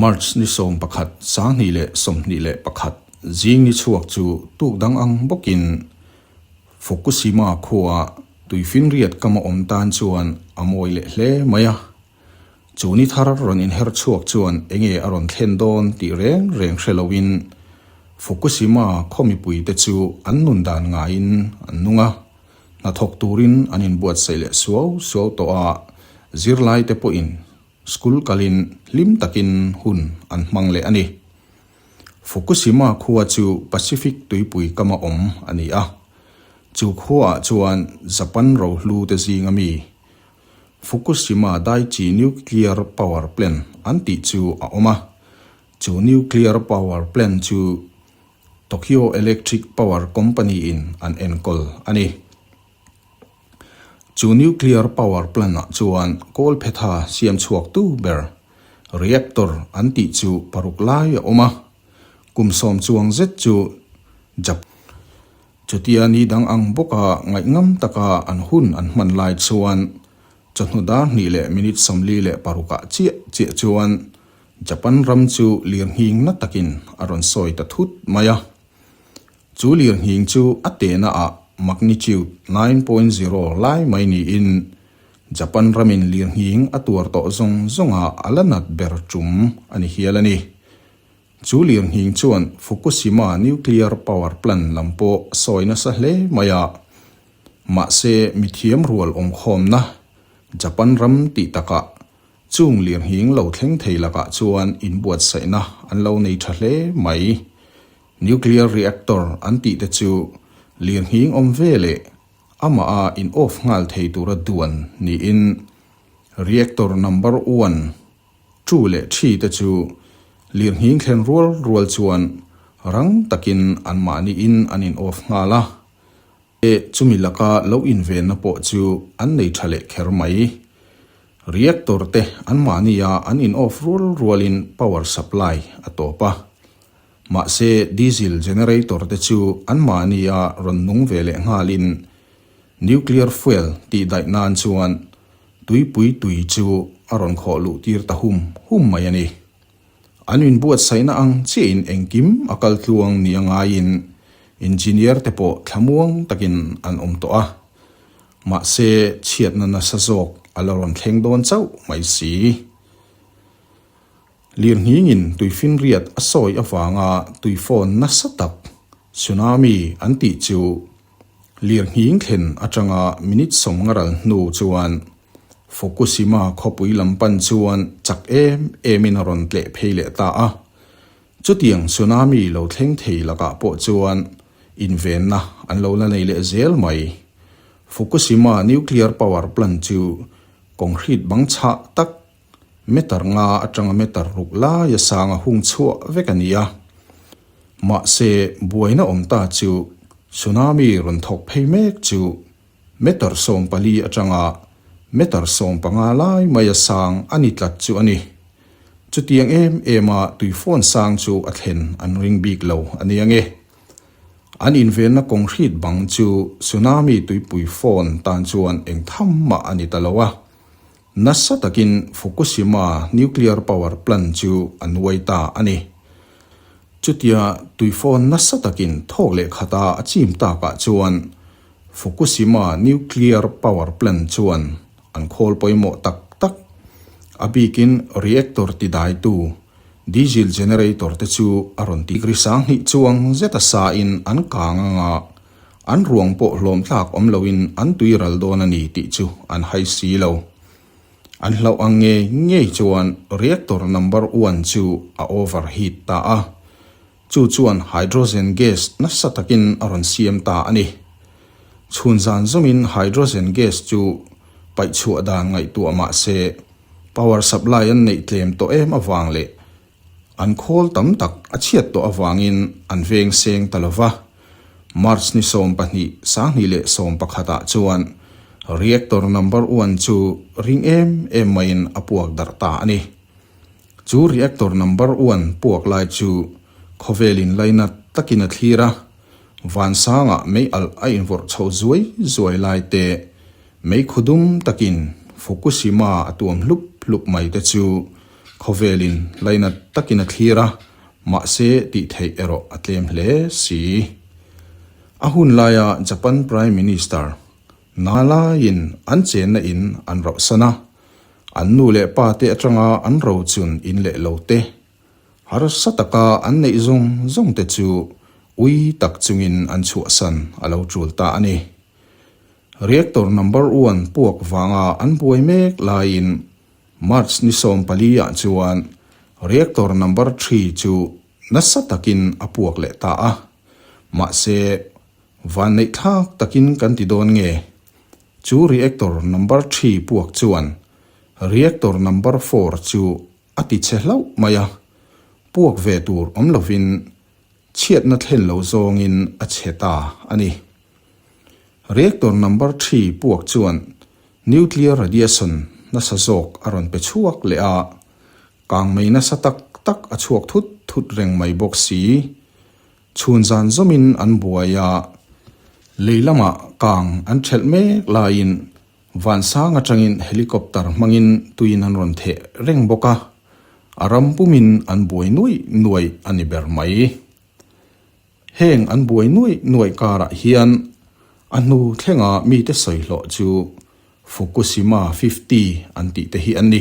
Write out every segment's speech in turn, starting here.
March ni sawm pakhat, sang hnih leh sawmhnih leh pakhat zing ni chhuak chu tuk dang ang bawkin Fukushima khuaa tui finriat kama awm tan chuan a mawi leh hle mai a. Chu ni thar rawn inher chhuak chuan eng nge a rawn thlen dawn tih reng reng hre loin Fukushima khaw mipui te chu an nun dan ngaiin an nung a, hnathawk turin an inbuatsaih leh suau suau tawh a, zirlai te pawhin school kalin hlim takin hun an hmang leh a ni. Fukushima khua chu Pacific tuipui kama awm a ni a, chu khuaah chuan Japan rohlute zinga mi Fukushima Daiichi Nuclear Power Plant an tih chu a awm a, chu nuclear power plant chu Tokyo Electric Power Company in an enkawl a ni. Chu nuclear power plant ah chuan kawl phetha siam chhuaktu ber, reactor, an tih chu paruk lai a awm a, kum sawm chuang zet chu Japan, Chutia ni dang ang bawka ngaih ngam taka an hun an hman lai chuan chawhnu dar hnih leh minute sawmli leh parukah chiah chiah chuan Japan ram chu lirnghingna takin a rawn sawi ta thut mai a. Chu lirnghing chu a tena ah magnitude nine point zero lai mai niin Japan ramin lirnghing a tuar tawh zawng zawngah a la nat ber tum a ni hial a ni. Chu Lianhning chuan Fukushima nuclear power plant lam pawh a sawi nasa hle mai a. Mahse mithiam rual awmkhawmna Japan ram tih takah chung lianhning lo thleng thei lakah chuan inbuatsaihna an lo nei tha hle mai. Nuclear reactor an tih te chu lianhning awm ve leh amaha in off nghal thei tura duan niin reactor number one, Two leh three te chu lirnghing thlen rual rual chuan rang takin an mahni in an in off nghal a, e chumi laka lo invenna pawh chu an nei tha leh kher mai. Reactor te an mahni a an in off rual rualin power supply a tawp a. Mahse, diesel generator te chu anmahni a rawn nung ve leh nghalin nuclear fuel tih daih nan chuan tuipui tui chu a rawn khawh luh tir ta hum hum mai a ni. An min buatsaihna ang chiahin engkim a kal tluang nia ngaiin engineer te pawh thlamuang takin an awm tawh a. Mahse, chhiatna nasa zawk a la rawn thleng dawn chauh mai si. Lirhningin tui finriat a sawi avanga tuifawn nasa tak, tsunami, an tih chu lirhning thlen atanga minute sawm ngaral hnu chuan Fukushima khawpui lam pan chuan chak em emin a rawn tleh phei leh ta a. Chutiang tsunami lo thleng thei lakah pawh chuan invenna an lo la nei leh zel mai. Fukushima nuclear power plant chu concrete bang chhah tak Meter nga atanga meter ruk laia sanga hung chhuah vek a ni a. Mahse, buaina awm ta chu tsunami rawn thawk phei mek chu meter sawm pali atanga meter sawm panga lai maia sang a ni tlat chu a ni. Chutiang em ema tuifawn sang chu a thlen an ring bik lo a ni ang e. An invenna concrete bang chu tsunami tuipui fawn tan chuan eng tham mah a ni ta lo a. Nasa takin Fukushima nuclear power plant chu a nuai ta a ni. Chutia tuifawn nasa takin thawk leh khata a chim takah chuan Fukushima nuclear power plant chuan an khawl pawimawh tak tak. A bikin reactor tidaitu, diesel generator te chu a rawn ti grisang hnih chuang zeta sain an kang a ngah. An ruang pawh hlawm tlak awm loin an tui ral dawn a ni tih chu an hai si lo. An hlauh ang ngei ngei chuan reactor number one chu a overheat ta a, chu chuan hydrogen gas nasa takin a rawn siam ta a ni. Chhun zan zawmin hydrogen gas chu paihchhuah dan ngaihtuah mah se, power supply an neih tlem tawh em avang leh An khawl tam tak a chhiat tawh avangin an veng seng ta lo va. March ni sawm pahnih, Sanghnih leh sawm pakhatah chuan Reactor Number One chu ring em em maiin a puak darh ta a ni. Chu Reactor Number One puak lai chu khawvel in lai nat takin a thlir a, vansanga meialh a invorh chho zuai zuai lai te, mei khaw dum takin Fukushima a tuam hlup hlup mai te chu Khawvelin lainat takin a thlir a, mahse tih theih erawh a tlem hle si. A hun laia Japan Prime Minister hna laiin an chenna in an rauhsan a, an nu leh pa te atanga an ro chun in leh lo te harsa taka an neih zawng zawng te chu ui tak chungin an chhuahsan a lo tul ta a ni. Reactor Number One puak vanga an buai mek laiin March ni sawm paliah chuan Reactor Number Three chu nasa takin a puak leh ta a, mahse vanneih thlak takin kan ti dawn nge, chu Reactor Number Three puak chuan Reactor Number Four chu a ti chhe hlauh mai a, puak ve tur awm lovin Chhiatna thlen lo zawngin a chhe ta a ni. Reactor number three puak chuan nuclear radiation nasa zawk a rawn pe chhuak leh a, kang mei nasa tak tak a chhuak thut thut reng mai bawk si. Chhun zan zawmin an buai a, lei lamah kang an ṭhelh mek laiin Vansang atangin helicopter hmangin tuiin an rawn theh reng bawk a, a ram pumin an buai nuaih nuaih a ni ber mai. Heng an buai nuaih nuaih karah hian a hnu thlenga mite sawi hlawh chu Fukushima fifty an tih te hi a ni.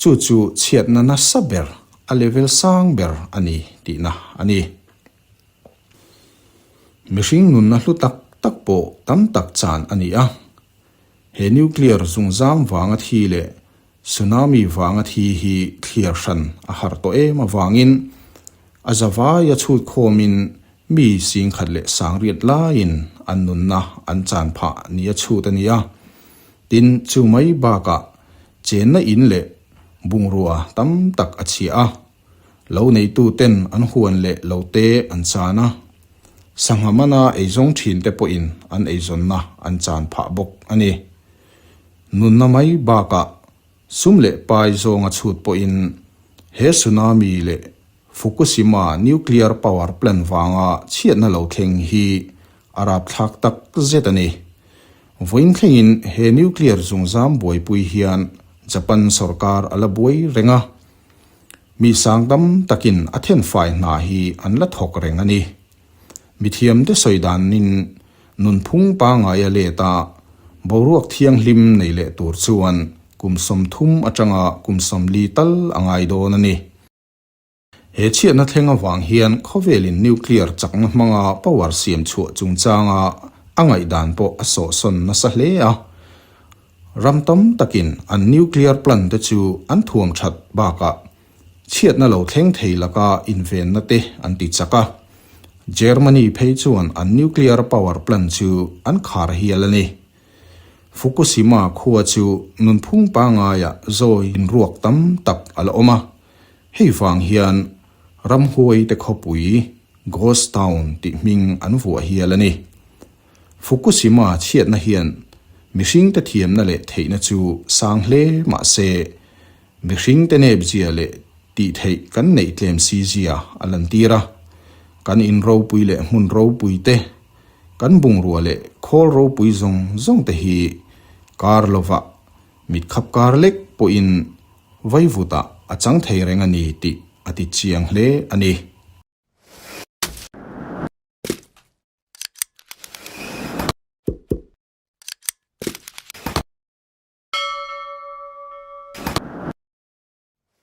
Chu chu chhiatna nasa ber, a level sang ber a ni tihna a ni. Mihring nunna hlu tak tak pawh tam tak chan a ni a. He nuclear zungzam vanga thi leh tsunami vanga thi hi thliar hran a har tawh em avangin a za vai a chhut khawmin mi singkhat leh sangriat laiin an nunna an chan phah nia chhut a ni a. Tin chu mai bakah Chenna in leh bungrua tam tak a chhiah a, lo neituten an huan leh lo te an chan a, sangha mana eizawng thin te pawhin an eizawnna an chan phah bawk a ni. Nunna mai bakah sum leh pai zawnga chhut pawhin he tsunami leh Fukushima nuclear power plant vanga chhiatna lo thleng hi a rapthlak tak zet a ni. Vawiin thlengin he nuclear zungzam buaipui hian Japan sorkar a la buai reng a, mi sang tam takin a thenfai hna hi an la thawk reng a ni. Mithiamte sawi danin nunphung pangai a let a, boruak thianghlim nei leh tur chuan kum sawmthum atanga kum sawmli tal a ngai dawn a ni. He chhiatna thleng avang hian khawvelin nuclear chakna hmanga power siam chhuah chungchanga a ngaihdan pawh a sawhsawn nasa hle a. Ram tam takin an nuclear plant te chu an thuam that bakah chhiatna lo thleng thei laka invenna te an ti chak a. Germany phei chuan an nuclear power plant chu an khar hial a ni. Fukushima khua chu nunphung pangaiah zawi inruak tam tak a la awm a, hei vang hian ramhuaite khawpui, ghost town, tih hming an vuah hial a ni. Fukushima chhiatna hian mihringte thiamna leh theihna chu sang hle mah se, mihringte nepzia leh tihtheih kan neih tlem si zia a lantîr a, kan in ropui leh hmun ropuite, Kan bungrua leh khawl ropui zawng zawng te hi kar lova mit khap kar lek pawhin vai vuta a chang thei reng a ni tih a ti chiang hle a ni.